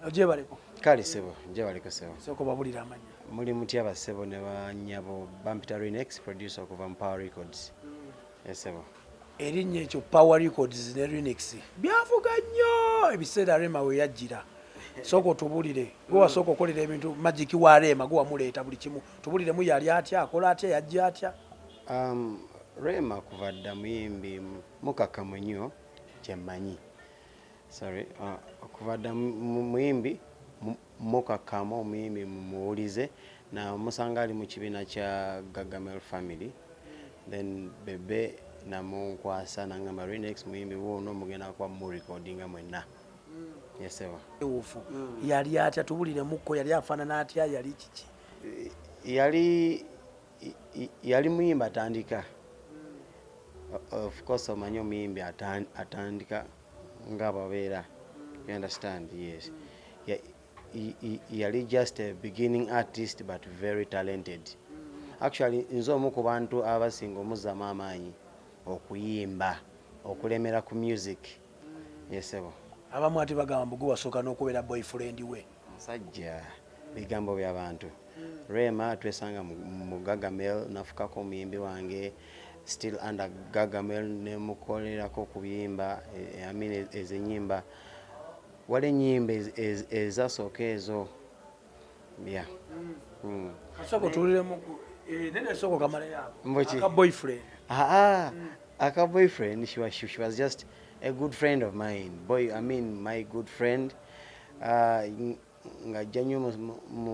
Ojebaleko. Kale sebo, njebaleko sebo. Soko babulira amanya. Muli mutya ba sebo ne ba nyabo Bampita Renex producer okuva mu Power Records. Mm. Yes sebo. Erinnya ekyo Power Records ne Renex. Byavuga nnyo ebiseera Rema we yajjira. Soko otubulire gwe wasooka okolera ebintu magic wa Rema gwe wamuleeta buli kimu tubulire mu yali atya akola atya yajja atya um, Rema kuva dda muyimbi mukakamu nnyo kyemmanyi sorry uh, okuva dda muyimbi mukakkama omuyimbi muwulize namusanga ali mu kibiina kya gagamel family then bebe namunkwasa nangamba renex muyimbi wuuno mugenda kuba murecordinga mwenna yeseba ufu mm. yali atya tubuliremukko yali afaanana atya yali kiki yali yali muyimbi atandika ofcourse omanyi omuyimbi atandika nga babeera you understand yes yali just a beginning artist but very talented actually nze omu ku bantu abasinga omuzzamu amaanyi okuyimba okulemera ku music yesebo abamu ati bagamba mbugu wasooka n'okubeera boyfriend we Musajja bigambo bya bantu. Hmm. Rema twesanga mu Gagamel nafukako omuyimbi wange still under Gagamel ne mukolerako kubiyimba eh, I mean ezinyimba wali enyimba ezasooka ezo ya hmm. hmm. Asoko tuliremu eh, nene soko kamala yako. Mbochi. Aka boyfriend. Ah ah. Aka boyfriend she was she was just a good friend of mine. Boy, I mean my good friend. Ah, ng'ajja nnyo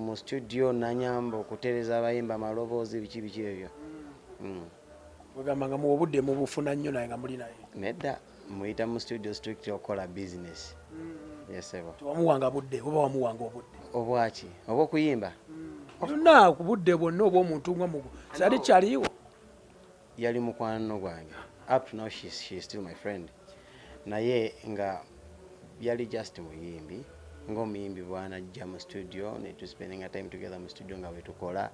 mu studio nanyamba okutereza abayimba amaloboozi biki biki ebyo mm. ogamba nga muwa obudde mubufuna nnyo naye nga muli naye nedda muyita mu studio strict okukola business mm. yesebo tewamuwanga budde oba wamuwanga obudde obwaki oba okuyimba mm. yonna ku budde bwonna obwomuntu nga mugu sali kyaliwo yali mukwano gwange up to now she, she is still my friend naye nga yali just muyimbi ng'omuyimbi bwanajja mu studio ne to spending a time together mu studio nga wetukola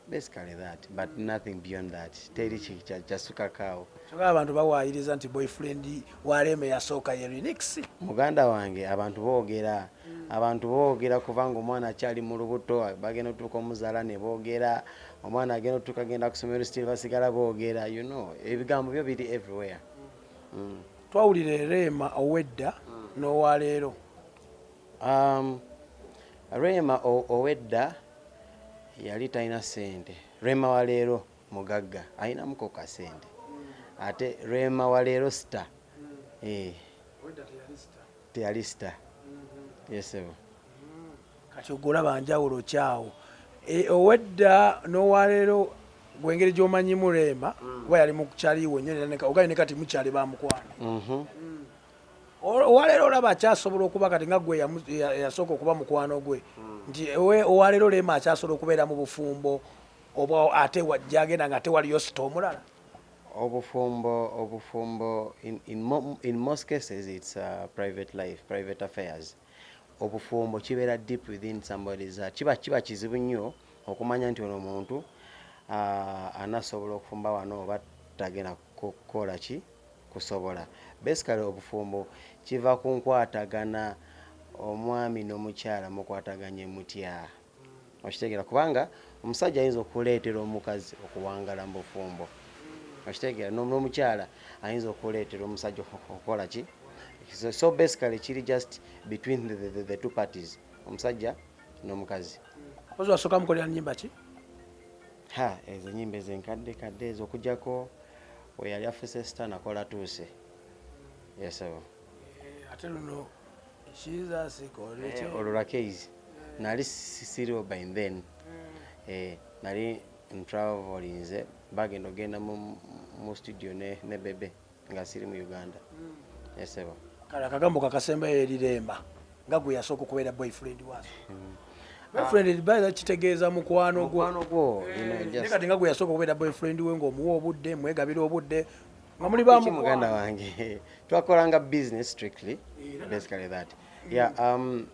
basically that but nothing beyond that teri kyasukakaawo kyokka abantu bawaayiriza nti boyfriend waleme yasooka ye renix muganda wange abantu boogera abantu boogera kubanga omwana akyali mu lubuto bagenda otuuka omuzaala ne boogera omwana agenda otutuka agenda kusomero still basigala boogera you know ebigambo byo biri everywhere mm. twawulira ereema owedda mm. n'owaleero um, reema owedda yali talina sente reema waleero mugagga alinamuko kasente mm. ate reema waleero sita eh. teyali sita mm-hmm. yesebo kati ogolaba njawulo kyawo e, owedda nowalero gwengeri gyomanyimu reema mm. kuba yali mukyaliwo nyo ogaye ne kati mukyali bamukwano mhm. mm. owalero olaba akyasobola okuba kati nga gwe yasooka okuba mukwano gwe mm. nti owalero reema akyasobola okubeera mu bufumbo oba ate gyagenda nga ate waliyo sita omulala obufumbo obufumbo in, in, mo, in most cases it's uh, private life private affairs obufumbo kibeera deep within somebody's heart kiba kiba kizibu nnyo okumanya nti ono muntu uh, anasobola okufumba wano oba tagenda kukola ki kusobola basically obufumbo kiva ku nkwatagana omwami n'omukyala mukwataganye mutya okitegeera kubanga omusajja ayinza okuleetera omukazi okuwangala mu bufumbo okitegeera n'omukyala ayinza okuleetera omusajja okukola ki so basically kiri just between the, the, the, the two parties omusajja n'omukazi ozi wasooka mukolera nyimba ki ha ezo nyimba ezenkadde kadde ezo okujjako weyali afuse sita nakola tuuse yesebo eh, ate luno Eh, olwo lwakeis nali siriwo by then mm. eh, nali ntravelinze bagenda ogenda mu studio ne bebe nga siri mu uganda mm. esebo eh, kale akagambo kakasembayo eriremba nga gwe yasooka okubeera boyfriend waso mm. boyfriend baira kitegeeza mukwano gwo kati nga gwe yasooka okubeera boyfriend we ngaomuwa obudde mwegabira obudde nga muli ba muganda wange twakolanga business strictly basically that yeah um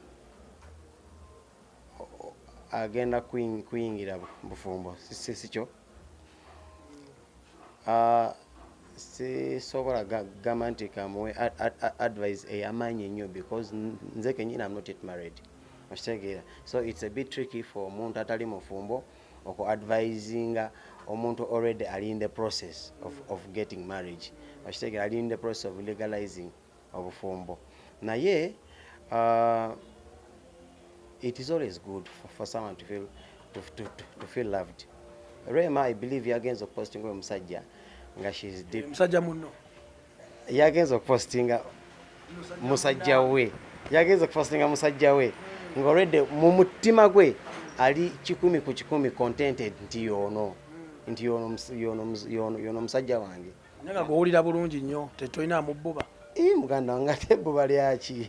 agenda kuyingira bufumbo sikyo ah, sisobola gamba nti kamuwe advise eyamaanyi ennyo because nze kenyini am not yet married okitegeera so it's a bit tricky for omuntu atali mufumbo oku advisinga omuntu already ali in the process of, of getting marriage okitegera ali in the process of legalizing obufumbo naye uh, it is always good for, for someone to feel, to, to, to, to feel loved rema i believe yagenza okupostinga oyo musajja nga she is deep musajja munno yagenze okupostinga musajja we yagenze okupostinga musajja we ng'olwedde mu mutima gwe ali kikumi ku kikumi contented nti yoono nti yoono omusajja wange naye nga gwowulira bulungi nnyo tetolina amubbuba muganda wange ate ebbuba lyaki